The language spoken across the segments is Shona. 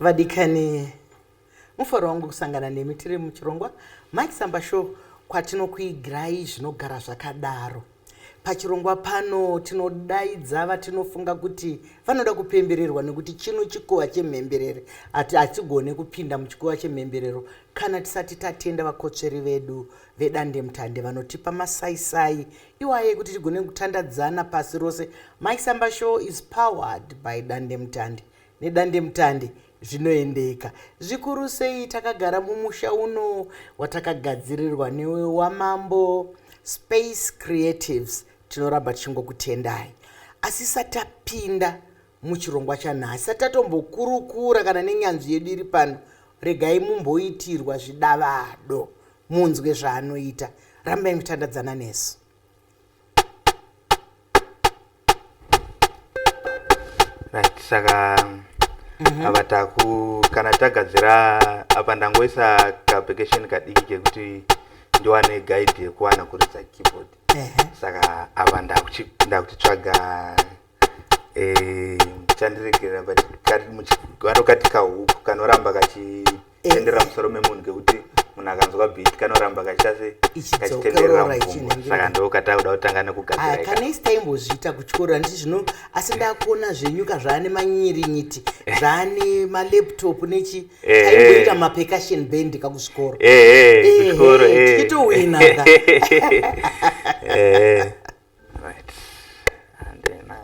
vadikani mufaro wangu kusangana nemi tiri muchirongwa mike samba show kwatinokuigirai zvinogara zvakadaro pachirongwa pano tinodaidza vatinofunga kuti vanoda kupembererwa nekuti chino chikuva chemhemberere ati hatigone kupinda muchikuva chemhemberero kana tisati tatenda vakotsveri vedu vedandemutande vanotipa masaisai iwaye kuti tigone kutandadzana pasi rose mysamba show is powered by dandemutande nedandemutande zvinoendeka zvikuru sei takagara mumusha uno watakagadzirirwa newe wamambo space creatives tinoramba tichingokutendai asi satapinda muchirongwa chanhasi satatombokurukura kana nenyanzvi yedu iri pano regai mumboitirwa zvidavado munzwe zvaanoita rambai mutandadzana nesu right saka mhm. apa taku kana tagadzira apa ndangoisa kaapplication kadiki kekuti ndiwane guide yekuwana kuridza keyboard saka apa ndakutitsvaga eh, chandiregerera but kano kati kahuku kanoramba kachitendera eh. musoro memunhu ngekuti munhu akanzwa bit kanoramba kachase kachitenderera mupfungwa saka ndokatava kuda kutanga nekugadzira kanext taimbozviita kuchikoro anditi zvino asi ndakuona zvenyuka zvaane manyirinyiti zvaane malaptop nechi eh, aimboita eh. mapercussion band kakuchikoro kuchikoro tichitowinaka Right. And then I...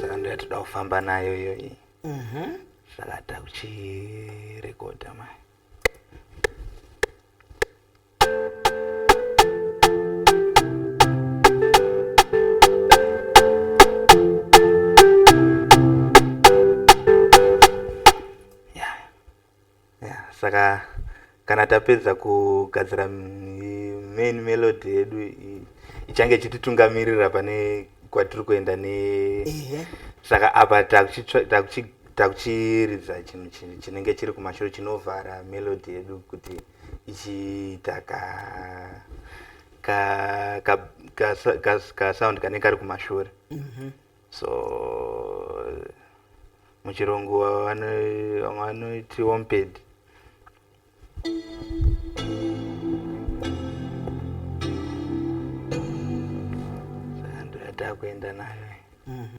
Saka ndoya toda kufamba nayo iyoyi. Mhm. Saka takuchirekodha mai. saka kana tapedza kugadzira main melody yedu ichange ichititungamirira pane kwatiri kuenda ne saka apa takuchiridza chinhu chinenge chiri kumashure chinovhara melody yedu kuti ichiita ka ka ka ka, ka, ka sound kanenge kari kumashure mm -hmm. so muchirungu vamwe vanoti womped ndoyatakuenda nayo mm -hmm.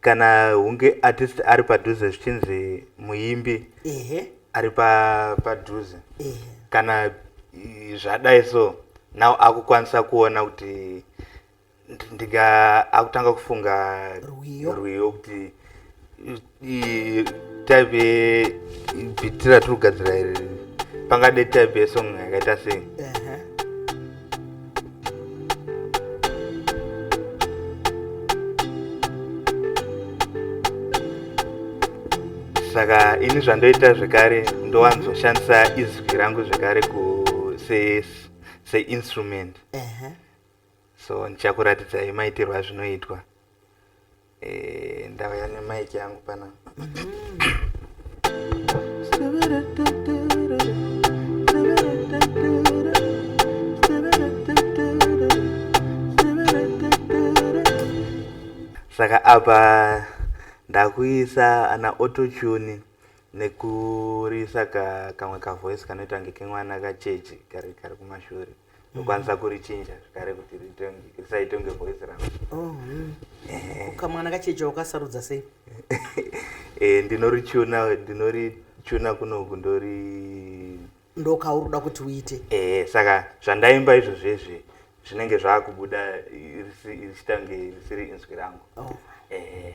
kana hunge artist ari padhuze zvichinzi muimbi ari padhuze kana zvadai so now akukwanisa kuona kuti ndinga akutanga kufunga rwiyo kuti type bhitira tiri kugadzira iri pangade type yesong yakaita sei saka ini zvandoita zvekare ndowanzoshandisa izwi rangu zvekare seinstrument se, se so ndichakuratidzai maitirwa zvinoitwa Eh, ndauya nemaiki yangu pana saka apa ndakuisa ana autotune nekurisa ka kamwe kavoice kanoita kunge kemwana kachechi kari kari kumashure ndokwanisa kurichinja zvekare kuti risaitonge voice rangu oh, hmm. kamwana kachecha wakasarudza sei eh, ndinorichuna ndinorichuna kunoku ndori ndokauri uda kuti uite eh, saka zvandaimba izvo zvezve zvinenge zvaakubuda richitange risiri inzwi rangu oh. eh.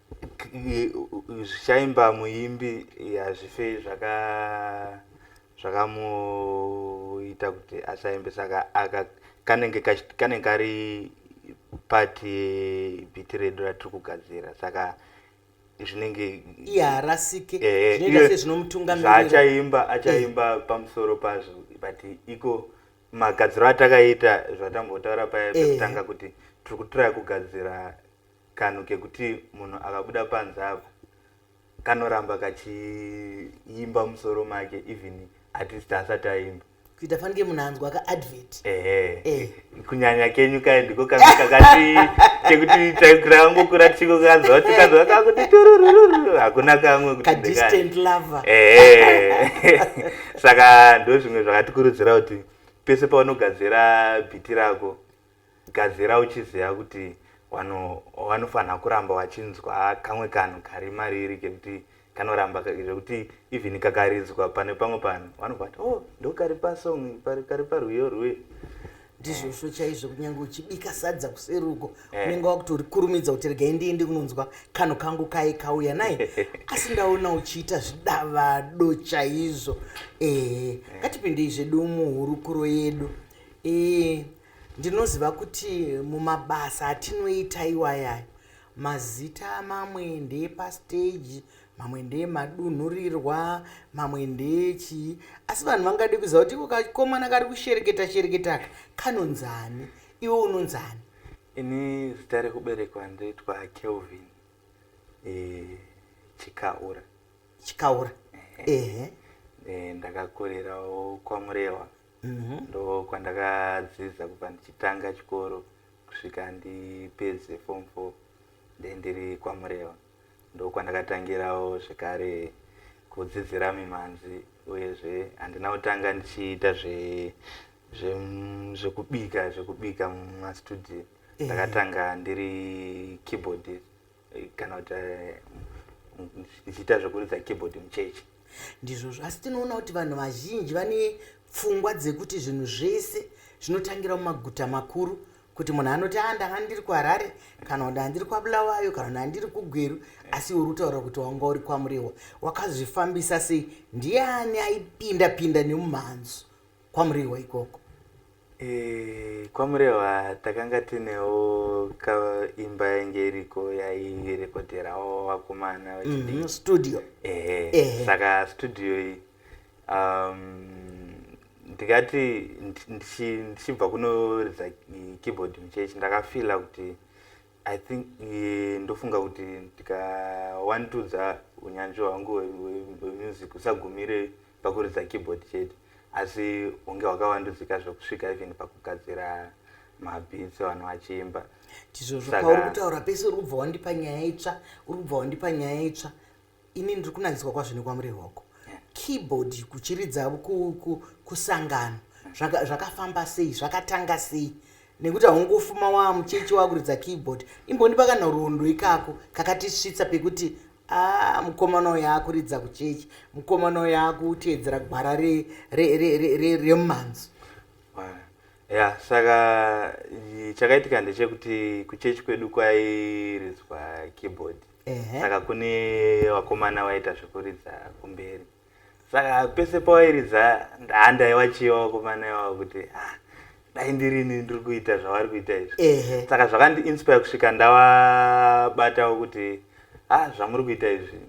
zvichaimba muimbi hazvife zvaka zvakamuita kuti asaimbe saka aka kanenge kanenge kari part yebhiti redu ratiri kugadzira saka zvinenge iharasike eh, zvinoita se zvinomutungamirira zvaachaimba achaimba eh. pamusoro pazvo but iko magadziro atakaita zvatambotaura paye eh. pekutanga kuti tiri kutiraya kugadzira kanhu kekuti munhu akabuda panze apa kanoramba kachiimba musoro make even at least asati aimba kuita fanike munhu anzwa kaadvert ehe eh. kunyanya kenyu kaye ndiko kange kakati kekuti takurangokura tichiko kanzwa tikanzwa kakuti tururururu hakuna kamwe kutidistant lover ehe saka ndo zvimwe zvakatikurudzira kuti pese paunogadzira bhiti rako gadzira uchiziva kuti wanofanira kuramba wachinzwa kamwe kanhu kari mariri kekuti kanoramba zvekuti even kakaridzwa pane pamwe panhu vanobva vati o oh, ndokari pasong kari parwiyo rwe ndizvozvo chaizvo kunyange uchibika sadza kuseruko eh. unenge wakutorikurumidza kuti regai ndiende kunonzwa kanhu kangu kai kauya naye asi ndaona uchiita zvidavado chaizvo ehe eh, eh. ngatipindei zvedu muhurukuro yedu ee Ndinoziva kuti mumabasa atinoita iwaya mazita mamwe ndeepastage mamwe ndeemadunhurirwa mamwe ndeechii asi vanhu vangade kuziva kuti iko kakomana kari kushereketa shereketa kanonzani iwe unonzani ini zita rekuberekwa ndoitwa kelvin e, chikaura chikaura ehe e, ndakakurirawo kwamurewa mhm. ndo kwandakadzidza kubva ndichitanga chikoro kusvika ndipedze form four then ndiri kwamureva ndo kwandakatangirawo zvekare kudzidzira mimhanzi uyezve handina kutanga ndichiita zvekubika zvekubika mumastudio eh. ndakatanga ndiri keyboardist kana kuti eh, ndichiita zvekuridza keyboard muchechi ndizvozvo asi tinoona kuti vanhu vazhinji vane pfungwa dzekuti zvinhu zvese zvinotangira mumaguta makuru kuti munhu anoti a ah, ndanga ndiri kuharare kana kuti andiri kwabulawayo kana kuti andiri kugweru asi uri kutaura kuti wanga uri kwamurehwa wakazvifambisa sei ndiani aipinda pinda nemumhanzu kwamurehwa ikoko Eh, kwamurehwa takanga tinewo kaimba yainge iriko yairekodherawo vakomana vachidii Mhm, studio ehe Ehe. saka studio iyi um, ndikati ndi- ndichi- ndichibva kunoridza i- keyboard muchechi ndakafila kuti i think eh, ndofunga kuti ndikawandudza unyanzvi hwangu hwe- hwe- hwemusic usagumire pakuridza keyboard chete asi hunge hwakawandudzika zvekusvika even pakugadzira mabhitsi vanhu vachiimba ndizvozvo Saka- pauri kutaura pese uri kubva wandipa nyaya itsva uri kubva wandipa nyaya itsva ini ndiri kunakiswa kwazvo nekwamurehwa uko keyboard kuchiridza kusangano zvakafamba sei zvakatanga sei nekuti haungofuma waa muchechi wakuridza keyboard imbondipa kanhoroondo ikako kakatisvitsa pekuti a ah, mukomana uyo akuridza kuchechi mukomana uyo akuteedzera gwara remumhanzi ya saka chakaitika ndechekuti kuchechi kwedu kwairidzwa keyboard saka kune vakomana vaita zvekuridza kumberi saka pese pawairidza handaiwachiva vakomana ivavo kuti ah, dai ndirini ndiri kuita zvavari kuita izvi saka zvakandiinspire kusvika ndavabatawo kuti a ah, zvamuri kuita izvi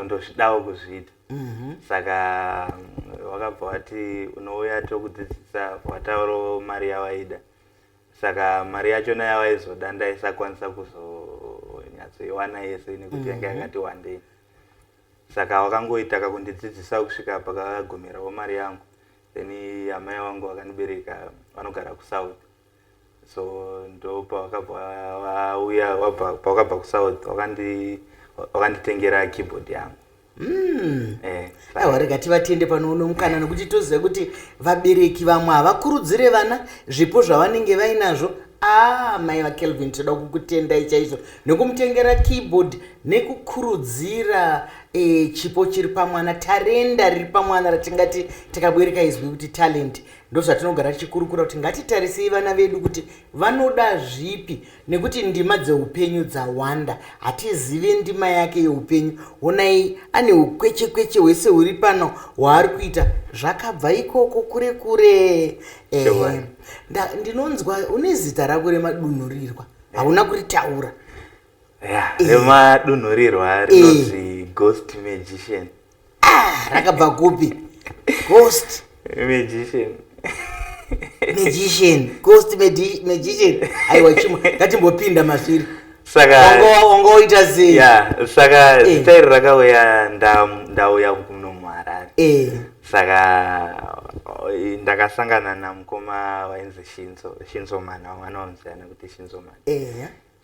ndozvidawo kuzviita mhm. saka wakabva wati unouya tokudzidzisa watauro mari yawaida saka mari yachona yavaizoda ndaisakwanisa kuzonyatsoiwana yese nekuti yanga mhm. yakati wandei saka wakangoita kakundidzidzisa kusvika pakagumirawo mari yangu then amai vangu vakandibereka vanogara kusouth so ndo pavakabva kusaud wakanditengera keyboard yangu aiwa rega tivatende pano uno mukana nokuti toziva kuti vabereki vamwe havakurudzire vana zvipo zvavanenge vainazvo a mai vakelvin toda kukutendai chaizvo nekumutengera keyboard nekukurudzira e, chipo chiri pamwana tarenda riri pamwana ratingati takabereka izwi kuti talent ndozvatinogara tichikurukura kuti ngatitarisei vana vedu kuti vanoda zvipi nekuti ndima dzeupenyu dzawanda hatizive ndima yake yeupenyu honai ane ukweche kweche hwese huri pano hwaari kuita zvakabva ikoko kure kure ehe ndinonzwa une zita rako remadunhurirwa hauna kuritaura remadunhurirwa rinonzi ghost magician ah, rakabva kupi ghost magician magician ghost magician aiwa chimwe ngatimbopinda masviri sakaongoita sei saka eh. zita iri rakauya ndauya kuno muharare eh. saka eh, ndakasangana namukoma wainzi shinzo shinzo mana wamwana wamuziana kuti shinzo mana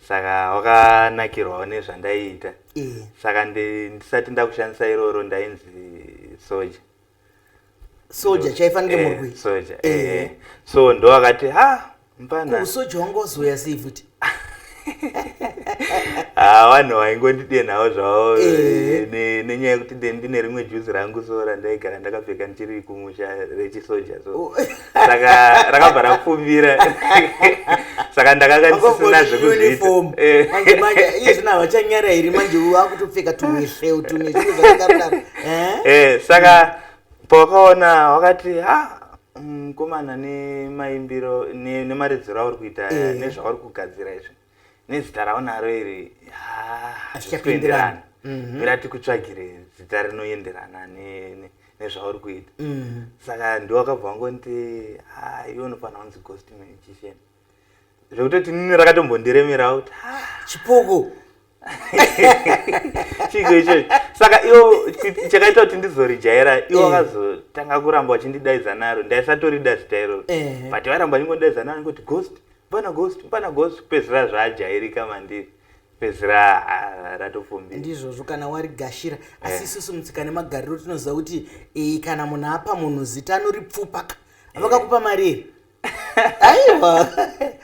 saka wakanakirwawo nezvandaiita eh. saka ndisati ndakushandisa iroro ndainzi soja soja chaifanike eh, murwi soja eh. so ndo akati ha mpana usoja wangu wazoya sei futi ah, vanhu vaingondidenhawo zvavo nenyaya yekuti ndine rimwe juzi rangu so randaigara ndakapfeka ndichiri kumusha rechisoja so oh. saka rakabva rapfumbira saka ndakanga ndisisina zvekuzviitaizvino havachanyara here manje wakutopfeka tumweseu tumwe zviro zvakadaro eh? eh, saka pawakaona wakati ha mukomana mm, nemaimbiro nemaridziro auri kuita eh. nezvauri kugadzira izvi nezita raunaro iri hazvichaenderani mhm. ira tikutsvagire zita rinoenderana nezvauri kuita mhm. saka ndiwakabva wangonti iwe unofanira kunzi ghost magician zvekutoti nini rakatombondiremerawo kuti chipuku chiko ichocho saka iwo chakaita kuti ndizorijaira iwo eh. akazotanga kuramba wachindidaidza naro ndaisatorida zita iroro but vairamba vachingondidaidza naro ngoti ghost Pana ghost, pana ghost kupedzira zvajairika mandiri. Pedzira ah, ratopfumbi. Ndizvozvo kana wari gashira asi eh. isusu mutsika nemagariro tinoziva kuti eh, kana munhu apa munhu zita anoripfupa ka. Eh. Vakakupa mari here? aiwa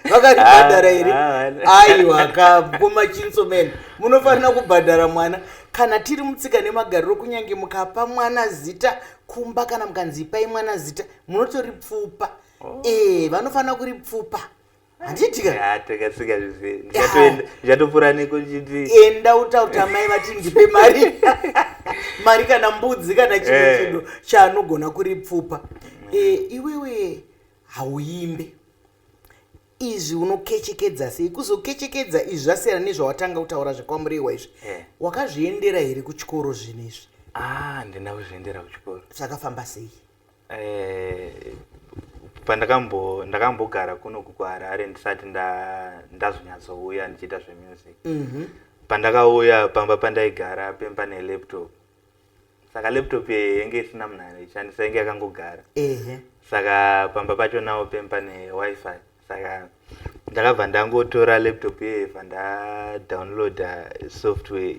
vakaribhadhara here ah, ah, aiwa kakoma chinso mene munofanira kubhadhara mwana kana tiri mutsika nemagariro kunyange mukapa mwana zita kumba kana mukanzi ipai mwana zita munotoripfupa oh. ee eh, vanofanira kuri pfupa handitikaatokasikaizvatoenda nekuchiti enda utauta mai vati ndipe mari mari kana mbudzi kana chino eh. chido chaanogona kuri pfupa mm. eh, iwewe hauimbe izvi unokechekedza sei kuzokechekedza izvi zvasiyana nezvawatanga kutaura zvekwamurehwa izvi eh. wakazviendera here kuchikoro zvinhu izvi ah, handina kuzviendera kuchikoro zvakafamba sei Eh, pandakambo ndakambogara kuno kukuharare ndisati ndazonyatsouya ndichiita zvemusic mhm. pandakauya pamba pandaigara pemba nelaptop saka laptop yenge isina munhu anoshandisa yenge yakangogara saka pamba pacho nawo pemba newifi saka ndakabva ndangotora laptop yeeva ndadownloada software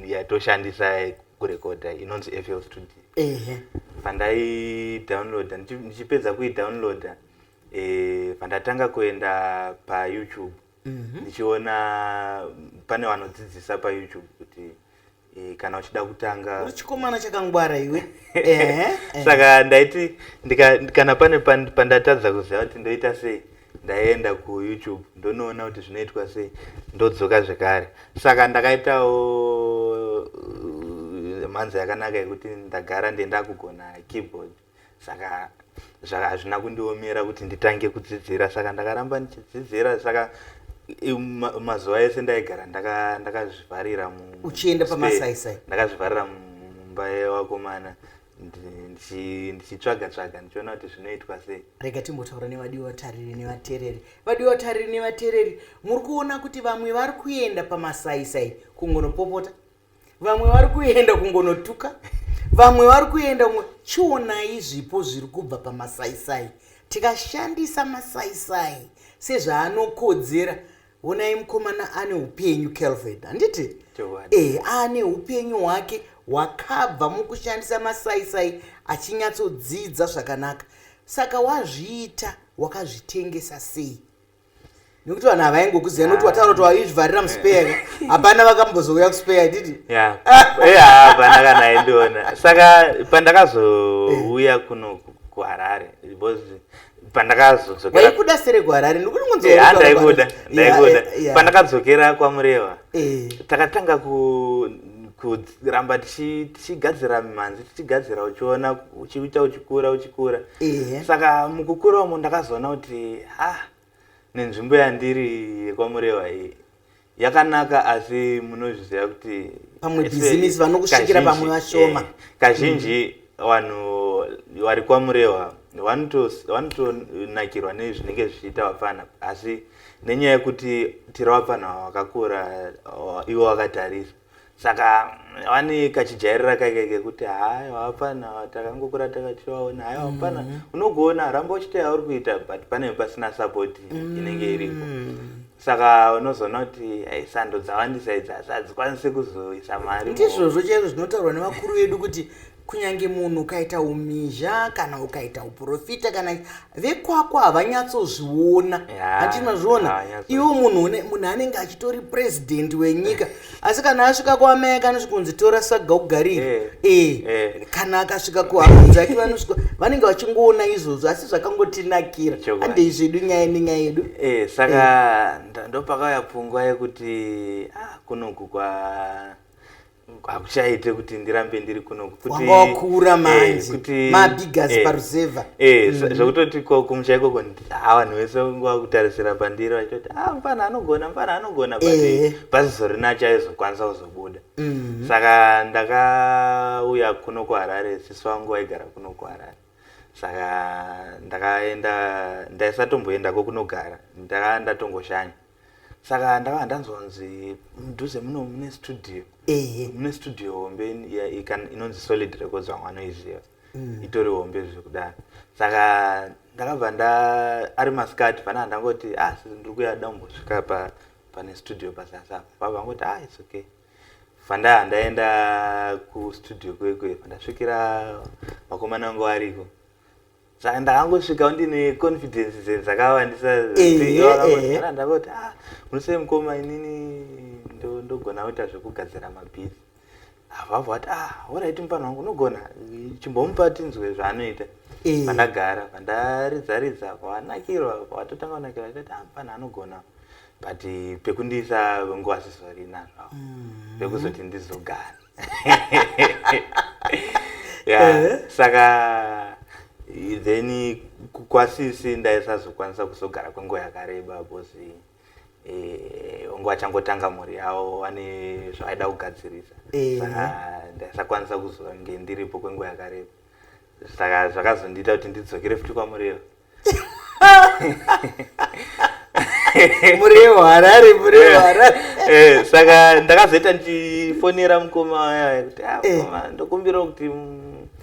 yatoshandisa kurekoda inonzi fl studio pandaidownloada ndichipedza kuidownloada eh, pandatanga kuenda payoutube mhm. ndichiona pane vanodzidzisa payoutube kuti Eh, kana uchida kutanga uri chikomana chakangwara iwe eh, eh. saka ndaiti kana pane pandatadza kuziva kuti ndoita sei ndaienda kuyoutube ndonoona kuti zvinoitwa sei ndodzoka zvekare saka ndakaitawo uh, mhanza yakanaka yekuti ndagara ndendakugona keyboard saka saka hazvina kundiomera kuti nditange kudzidzira saka ndakaramba ndichidzidzira saka mazuva ese ndaigara ndakazvivharira uchienda pamasaisai ndakazvivharira mumba yevakomana ndichitsvaga tsvaga ndichiona kuti zvinoitwa sei rega timbotaura nevadiwa vatariri nevatereri vadiwa vatariri nevatereri muri kuona kuti vamwe vari kuenda pamasaisai kungonopopota vamwe vari kuenda kungonotuka vamwe vari kuenda kungo chionai zvipo zviri kubva pamasaisai tikashandisa masaisai sezvaanokodzera onai mukomana ane upenyu kelvin handiti e ane upenyu hwake hwakabva mukushandisa masaisai achinyatsodzidza zvakanaka saka wazviita wakazvitengesa sei nekuti vanhu havaingokuziva nekuti wataura kuti waizvivharira muspeya hapana vakambozouya kuspeya ididi eh, hapana kana aindiona saka pandakazouya kuno kuharare pandakazodzokeraikuda sere kuharare ndikutingonzwaandaikuda eh, ndaikuda eh, pandakadzokera kwamureva takatanga ku kuramba tichigadzira mimhanzi tichigadzira uchiona uchiita uchikura uchikura saka mukukura umo ndakazoona kuti ha nenzvimbo yandiri yekwamurewa iyi yakanaka asi munozviziva kuti pamwe bhizimisi vanokusvikira pamwe vashoma eh, kazhinji mm. vanhu vari kwamurewa vanotonakirwa nezvinenge zvichiita vapfana asi nenyaya yekuti tira vapfana vakakura ivo vakatarisa saka vane kachijairira kaike kekuti haya vapfana takangokura takachivaona haya vapfana mm. unogoona ramba uchita yauri kuita but panenge pasina sapoti mm. inenge iripo saka unozoona kuti eh, sando dzawandisa idzi asi hadzikwanisi kuzoisa mari ndizvozvo chaizvo zvinotaurwa nevakuru vedu kuti kunyange munhu ukaita umizha kana ukaita uprofita kana vekwakwa havanyatsozviona hati mazviona iwo munhu munhu anenge achitori president wenyika asi kana asvika kuamai ake anosvika kunzi tora saga ugarire eh, eh. eh. kana akasvika kuhamanzi ake vanosvika vanenge vachingoona izvozvo asi zvakangotinakira handei zvedu nyaya ine nyaya yedu eh, saka eh. ndopakauya pfungwa yekuti ah, kunoku kwa hakuchaite kuti ndirambe ndiri kuno kutiwakura eh, manje mabigasi eh, paruzevha eh, mm. zvekutoti kumusha ikoko Ah, vanhu vese nguva kutarisira pandiri vachitoti ah, mfana anogona mfana anogona but Ehe. pasizorina achaizokwanisa kuzobuda Mhm. saka ndakauya kuno kuharare sisi vangu vaigara kuno kuharare saka ndakaenda ndaisatomboendako kunogara ndaka ndatongoshanya saka ndava ndanzonzi mudhuze muno mune studio ehe mune studio hombe in- ya- ikan- inonzi solid records vamwe vanoiziva Mm. itori hombe zvekudaro saka ndakabva nda ari masikati panaa ndangoti ah sisi ndiri kuya da kumbosvika pa pane studio pasasa baba vangoti ah it's okay fandaa ndaenda kustudio kwekwe pandasvikira makomana angu ariko saka ndakangosvika ndine confidence dze dzakawandisa zekutivakangogara ndakoti ah munosei mukoma inini ndogona kuita zvekugadzira mabhizi havavo vati ah horaiti mupana wangu unogona chimbomupa tinzwe zvaanoita pandagara pandaridzaridza kwavanakirwa kwavatotanga kunakirwa tati ah mupana anogona but pekundisa nguva zvizorinazvavo mm-hmm. pekuzoti ndizogara yeah. saka then kwasisi ndaisazokwanisa kuzogara kwenguva yakareba bcozi eh, onge vachangotanga mhuri yavo vane zvavaida kugadzirisa eh. saka ndaisakwanisa kuzonge ndiripo kwenguva yakareba saka zvakazondiita kuti ndidzokere futi kwamuriyo muriwo harare muriwo harare eh, eh, saka ndakazoita ndichifonera mukoma aya kuti ah, eh. mukoma ndokumbirawo kuti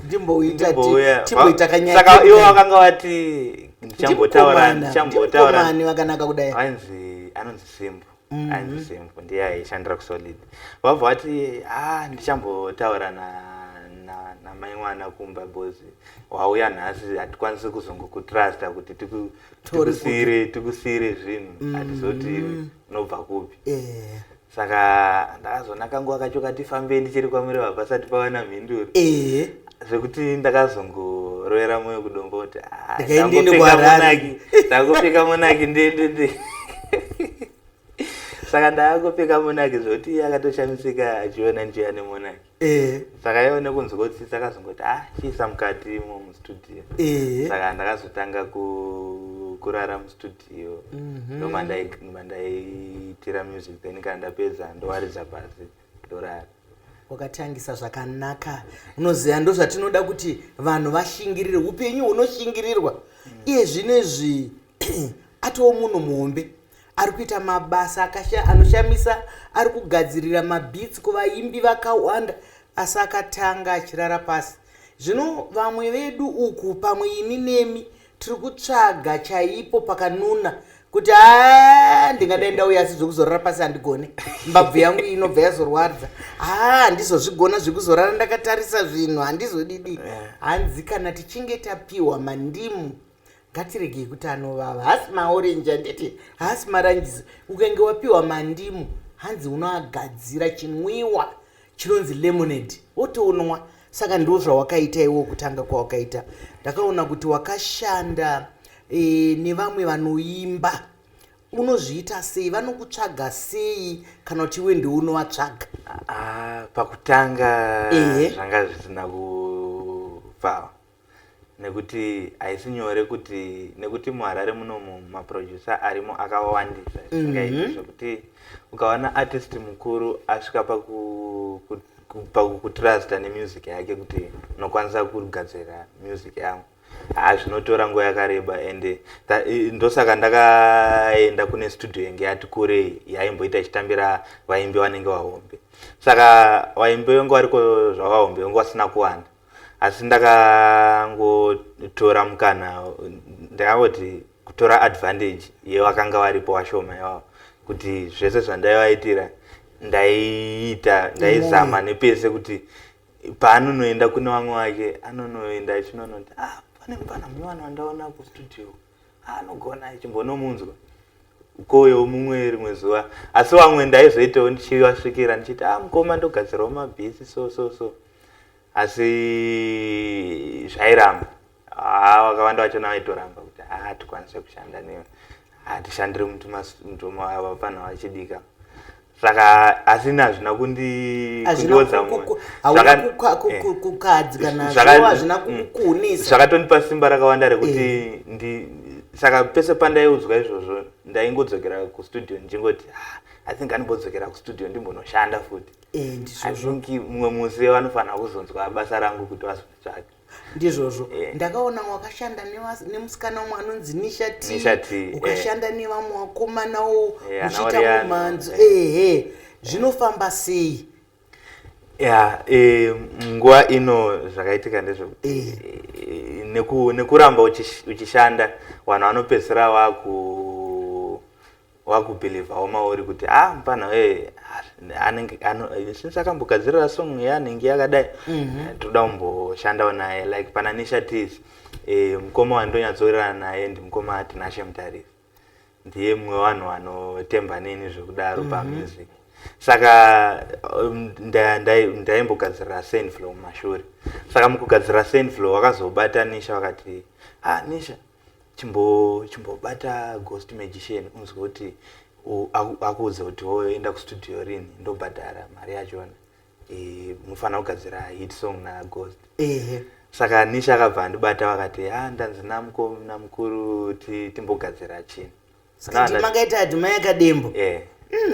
ndimbouyatimboitakanyasaka iwo vakanga vati ndichambotaura ndichambotaura vakanaka kudai anzi anonzi simbo mm. and the same ndiye aishandira kusolid vabva vati ah ndichambotaura na namai mwana kumba bhozi wauya nhasi hatikwanisi kuzongokutrusta kuti tikusire tikusire zvinhu mm. hatizoti unobva kupi eh. saka ndakazoona kanguva kacho katifambei ndichiri kwamuri vabva sati pavana mhinduro eh. zvekuti ndakazongorovera moyo kudombo kuti ah, ndangopfeka monaki ndendende saka ndaakupfeka monaki zvekuti akatoshamisika achiona njiya nemonaki eh. saka yaive nekunzi kotsitsa akazongoti ah chiisa mukati imo mustudio eh. saka ndakazotanga kurara mustudio mhm. ndomandaiitira music then kana ndapedza ndowaridza pasi ndorara wakatangisa zvakanaka unoziva ndozvatinoda kuti vanhu vashingirire upenyu hunoshingirirwa mm. iye zvinezvi atoo munhu muhombe ari kuita mabasa anoshamisa ari kugadzirira mabits kuvaimbi vakawanda asi akatanga achirara pasi zvino vamwe vedu uku pamwe ini nemi tiri kutsvaga chaipo pakanuna kuti haa ndingadai ndauya asi zvekuzorora pasi handigone mbabvu yangu inobva yazorwadza haa handizozvigona zvekuzorara ndakatarisa zvinhu handizodidi eh. hanzi kana tichinge tapiwa mandimu ngatiregei kuti anovava hasi maorenji anditi hasi maranjisi ukenge wapiwa mandimu hanzi unoagadzira chinwiwa chinonzi lemonade wotonwa saka ndo zvawakaita iwo kutanga kwawakaita ndakaona kuti wakashanda e, nevamwe vanoimba unozviita sei vanokutsvaga sei kana kuti iwe ndiwe unovatsvaga ah, pakutanga zvanga zvisina kufava nekuti haisi nyore kuti nekuti muharare munomu maproducer arimo akawandisa zvisingaiti mhm. zvekuti ukawana artist mukuru asvika pakukutrusta nemusic yake kuti unokwanisa kugadzira music yangu haa ah, zvinotora nguva yakareba and ndosaka ndakaenda kune studio yange yati kure yaimboita ichitambira vaimbi vanenge vahombe saka vaimbi vange variko zvavahombe vange vasina kuwanda asi ndakangotora mukana ndakangoti kutora advantage yevakanga varipo vashoma ivavo kuti zvese zvandaivaitira ndaiita ndaizama nepese kuti paanonoenda kune vamwe vake anonoenda achinonoti ah, pane mupana munyowani wandaona kustudio anogona chimbonomunzwa ukoyo mumwe rimwe zuva asi vamwe ndaizoitawo ndichivasvikira ndichiti a ah, mukoma ndogadzirawo mabhisi so so so asi zvairamba ah, vakawanda vacho navaitoramba kuti a ah, hatikwanise kushanda newe hatishandiri mutumavapana vachidika saka asina hazvina kundiodza zvakatondipa eh, simba rakawanda rekuti eh. saka pese pandaiudzwa izvozvo ndaingodzokera kustudio ndichingoti ah, i think animbodzokera kustudio ndimbonoshanda futi eh, i think mumwe musi vanofanira kuzonzwa basa rangu kuti vazonditsvake ndizvozvo yeah. ndakaona wakashanda nemusikana umwe anonzi nisha t eh. ukashanda yeah. nevamwe wakomanawo eh, uchiita yeah, mumhanzo eh. ehe yeah. zvinofamba sei ya e, nguva ino zvakaitika ndezvekuti e, neku, nekuramba uchishanda vanhu vanopedzisira vaku wakubhilivhawo mauri kuti a ah, mupana wee anenge since akambogadzirira song yanenge yakadai mhm. eh, toda kumboshandawo naye like pana nisha tis eh, mukoma wandonyatsowirirana naye and mukoma tinashe mutariri ndiye mumwe vanhu vanotemba neni zvekudaro mhm. pamusic saka um, ndaimbogadzirira senflow mumashure saka mukugadzirira senflow wakazobata nisha wakati ha ah, nisha chimbo chimbobata ghost magician unzwe kuti u- aku- akuudze kuti woyo enda kustudio rini ndobhadhara mari yachona Eh, mufanira kugadzira hit song naghost ehe saka nisha akabva andibata vakati ha ndanzi namko namukuru ti- timbogadzira chinhu skiti makaita ati mai akadembo eh. mm,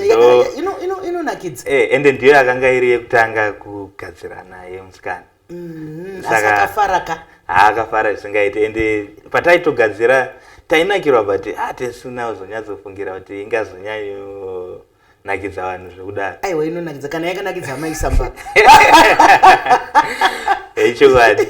inonakidza ino, ino eh, ende ndiyo yakanga iri yekutanga kugadzira naye musikana mm, sakafaraka haakafara zvisingaiti ende pataitogadzira tainakirwa but ah, tesu now zonyatsofungira kuti ingazonyanyo nakidza vanhu zvekudaro aiwa inonakidza kana yakanakidza amai samba echokwadi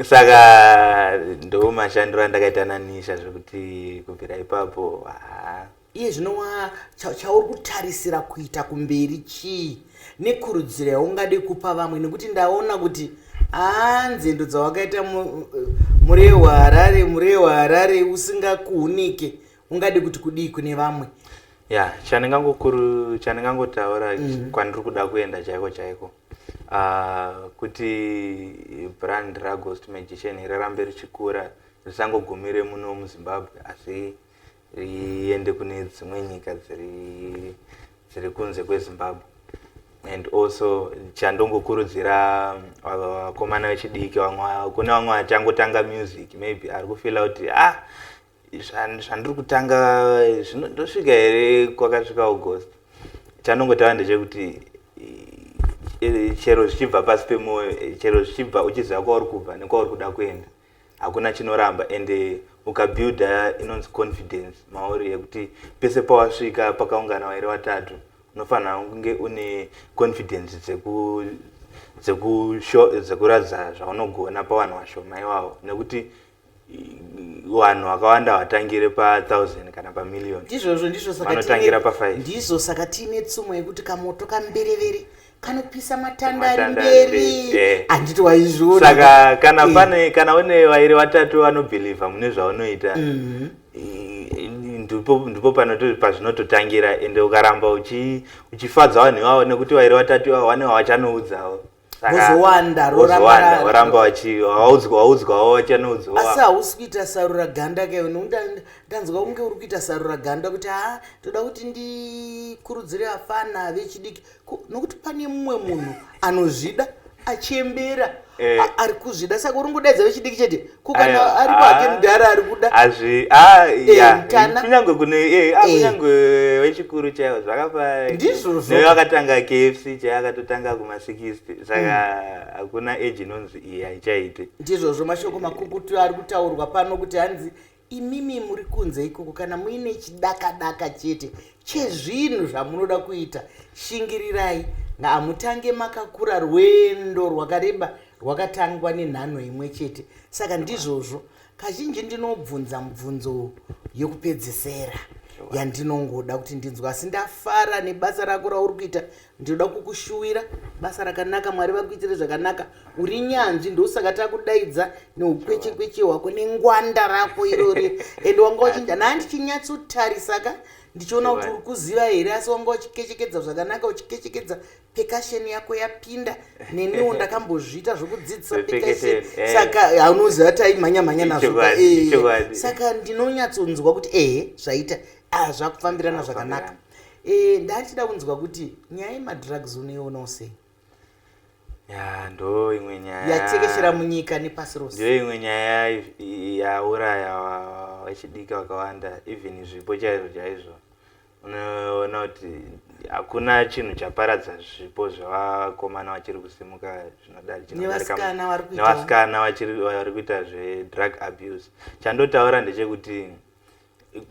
saka ndo mashandiro andakaita nanisha zvekuti kubvira ipapo haa iye zvino wa chauri kutarisira kuita kumberi chii nekurudziro yaungade kupa vamwe nekuti ndaona kuti haa nzendo dzawakaita muree waharare muree waharare usingakuhunike ungade kuti kudii kune vamwe ya chandingangokuru chandingangotaura mm. kwandiri kuda kuenda chaiko chaiko uh, kuti brand raghost magician rirambe richikura risangogumire muno muzimbabwe asi riende kune dzimwe nyika dziri dziri kunze kwezimbabwe and also chandongokurudzira uh, vakomana vechidiki vamwe kune vamwe vachangotanga music maybe ari kufila kuti ah zvandiri kutanga zvino ndosvika here kwakasvika august chanongo tava ndechekuti chero zvichibva pasi pemwoyo chero zvichibva uchiziva kwauri kubva nekwauri kuda kuenda hakuna chinoramba and ukabuilda inonzi confidence mauri yekuti pese pawasvika pakaungana wairi watatu unofanira kunge une confidence dzekuratidza zvaunogona pavanhu vashoma iwawo nekuti vanhu vakawanda vatangire pa1000 kana pamillion ndizvozvo ndizvovanotangira pa5 ndizvo saka tiine tsumo yekuti kamoto kamberevere kanopisa matanda ari mberi eh. handiti waizviona saka kana eh. pane kana une vairi vatatu vanobhilivha mune zvaunoita mhm. ndipo pazvinototangira ende ukaramba uchifadza vanhu ivavo nekuti vairi vatatu ivavo vane vavachanoudzawo vozowanda roramba vachivaudzwawo vachanoudzwa asi hausi kuita sarura ganda ke ndanzwa kunge uri kuita sarura ganda kuti ha toda kuti ndikurudzire afana vechidiki nokuti pane mumwe munhu anozvida achembera eh. ari kuzvida saka uri ngodaidza vechidiki chete kukana aripo hake ah, mudhara ari kuda azvi ah, eh, kunyange kune eh, ah, eh. kunyange wechikuru chaivo zvakafaa ndizvozvo akatanga kfc chaiye akatotanga kumasikisty saka hmm. hakuna age inonzi iyi haichaite ndizvozvo mashoko makukutu ari kutaurwa pano kuti hanzi imimi muri kunze ikoko kana muine chidakadaka chete chezvinhu zvamunoda kuita shingirirai hamutange makakura rwendo rwakareba rwakatangwa nenhanho imwe chete saka ndizvozvo kazhinji ndinobvunza mubvunzo yekupedzesera yandinongoda kuti ndinzwa asi ndafara nebasa rako rauri kuita ndinoda kukushuwira basa rakanaka mwari vakuitire zvakanaka uri nyanzvi ndosaka takudaidza neukwechekweche hwako nengwanda rako irori and wanga uchinda naa ndichinyatsotarisaka ndichiona kuti uri kuziva here asi wanga uchikechekedza zvakanaka uchikechekedza pekasheni yako yapinda neniwo ndakambozviita zvokudzidzisa pekasheni eh. saka haunoziva taimhanya mhanya nazvo eh. saka ndinonyatsonzwa kuti ehe zvaita ah, zvakufambirana zvakanaka eh, ndachida kunzwa kuti nyaya yemadrugs unoionawo sei ya ndo imwe nyaya yatekeshera munyika nepasi rose ndo imwe nyaya yauraya vachidiki vakawanda even zvipo chaizvo chaizvo unoona kuti hakuna chinhu chaparadza zvipo zvevakomana vachiri kusimuka zvinodarikanevasikana vari kuita zvedrug abuse chandotaura ndechekuti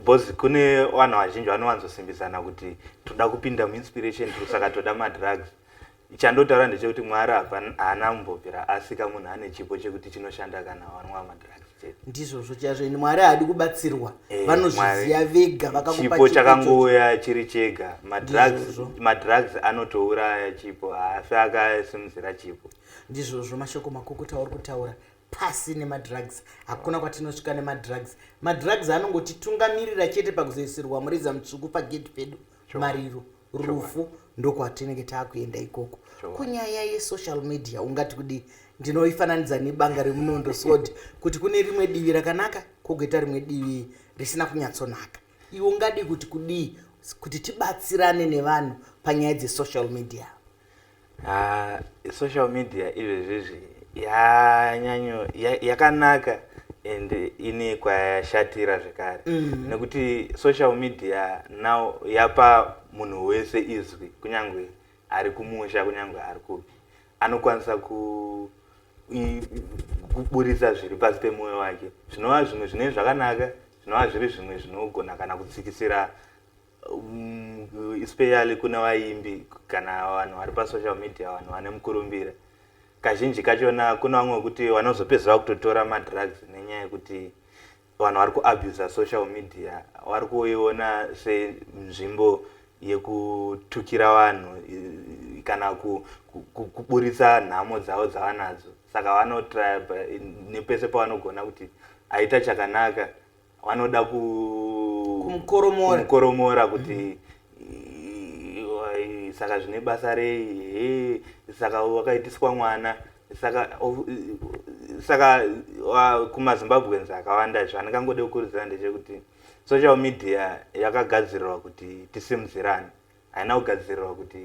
bcause kune vanhu vazhinji vanowanzosimbisana kuti toda kupinda muinspiration saka toda madrugs Chandotaura ndechekuti Mwari hapana haana kumbobvira asika munhu ane chipo chekuti chinoshanda kana wanwa madrugs chete. Ndizvozvo chazvo ini Mwari haadi kubatsirwa. Eh, Vanozviziva Mwari- vega vakakupa chipo chipo ichocho. chakangouya chiri chega madrugs Ndizvozvo. madrugs anotouraya chipo haafi akasimudzira chipo ndizvozvo mashoko makukuta auri kutaura pasi nemadrugs hakuna kwatinosvika nemadrugs madrugs anongotitungamirira chete pakuzoisirwa mureza mutsvuku pagedhi pedu mariro rufu ndokwatinenge taakuenda ikoko kunyaya yesocial media ungati kudii ndinoifananidza nebanga remunondo sod kuti kune rimwe divi rakanaka kogoita rimwe divi risina kunyatsonaka iwe ungadii kuti kudii kuti tibatsirane nevanhu panyaya dzesocial media Ah, social media izvezvizvi yanyanyo ya- yakanaka and ine kwayashatira zvekare Mm. nekuti social media now yapa munhu wese izwi kunyangwe ari kumusha kunyangwe ari kupi anokwanisa ku i- kuburitsa zviri pasi pemwoyo wake zvinova zvimwe zvine zvakanaka zvinova zviri zvimwe zvinogona kana kutsikisira um, especially kune vaimbi kana vanhu vari pasocial media vanhu vane mukurumbira kazhinji kachona kune vamwe vekuti vanozopedzera kutotora madrugs nenyaya yekuti vanhu vari kuabusa social media vari kuiona senzvimbo yekutukira vanhu kana kuburitsa nhamo dzavo dzavanadzo saka vanotraya nepese pavanogona kuti aita chakanaka vanoda ku kumukoromora kumukoromora kuti mm -hmm saka zvine basa rei saka wakaitiswa mwana saka saka kumazimbabweans akawanda izvo andikangode kukurudzira ndechekuti social media yakagadzirirwa kuti tisimudzirane haina kugadzirirwa kuti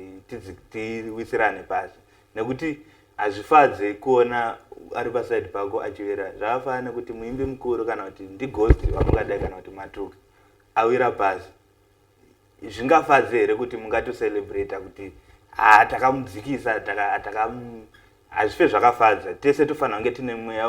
tiwisirane pasi nekuti hazvifadze kuona ari paside pako achivera zvakafana nekuti muimbi mukuru kana kuti ndigost vamungadai kana kuti matuka awira pasi zvingafadze here kuti mungatocelebrata kuti ha takamudzikisa hazvife zvakafadza tese tofanira kunge tine mweya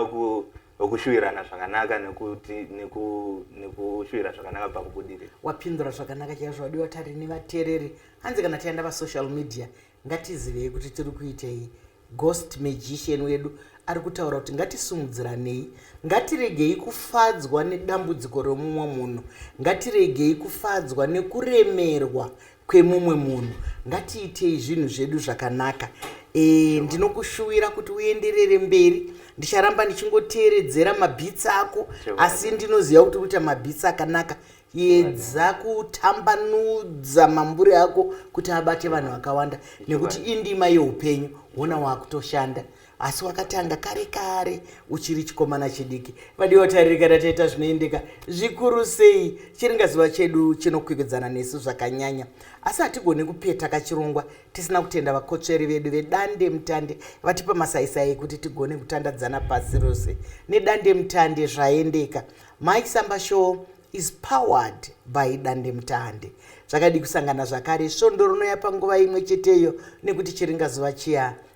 wekushuvirana zvakanaka nekushuvirana zvakanaka pakubudirira wapindura zvakanaka chaizvo wadiwa tari nevateereri hanzi kana taenda pasocial media ngatizivei kuti tiri kuitei ghost magician wedu ari kutaura kuti ngatisumudziranei ngatiregei kufadzwa nedambudziko remumwe munhu ngatiregei kufadzwa nekuremerwa kwemumwe munhu ngatiitei zvinhu zvedu zvakanaka e, ndinokushuwira kuti uenderere mberi ndicharamba ndichingoteeredzera mabhitsi ako asi ndinoziva kuti kuita mabhitsi akanaka yedza kutambanudza mambure ako kuti abate vanhu vakawanda nekuti indima yeupenyu hona waakutoshanda asi wakatanga kare kare uchiri chikomana chidiki vadiwa taririka tataita zvinoendeka zvikuru sei chiringaziva chedu chinokwikwidzana nesu zvakanyanya asi hatigoni kupeta kachirongwa tisina kutenda vakotsveri vedu vedande mutande vatipa masaisai ekuti tigone kutandadzana pasi rose nedande mutande zvaendeka mike samba show is powered by dande mutande zvakadii kusangana zvakare svondo rinouya panguva imwe cheteyo nekuti chiringazuva chiya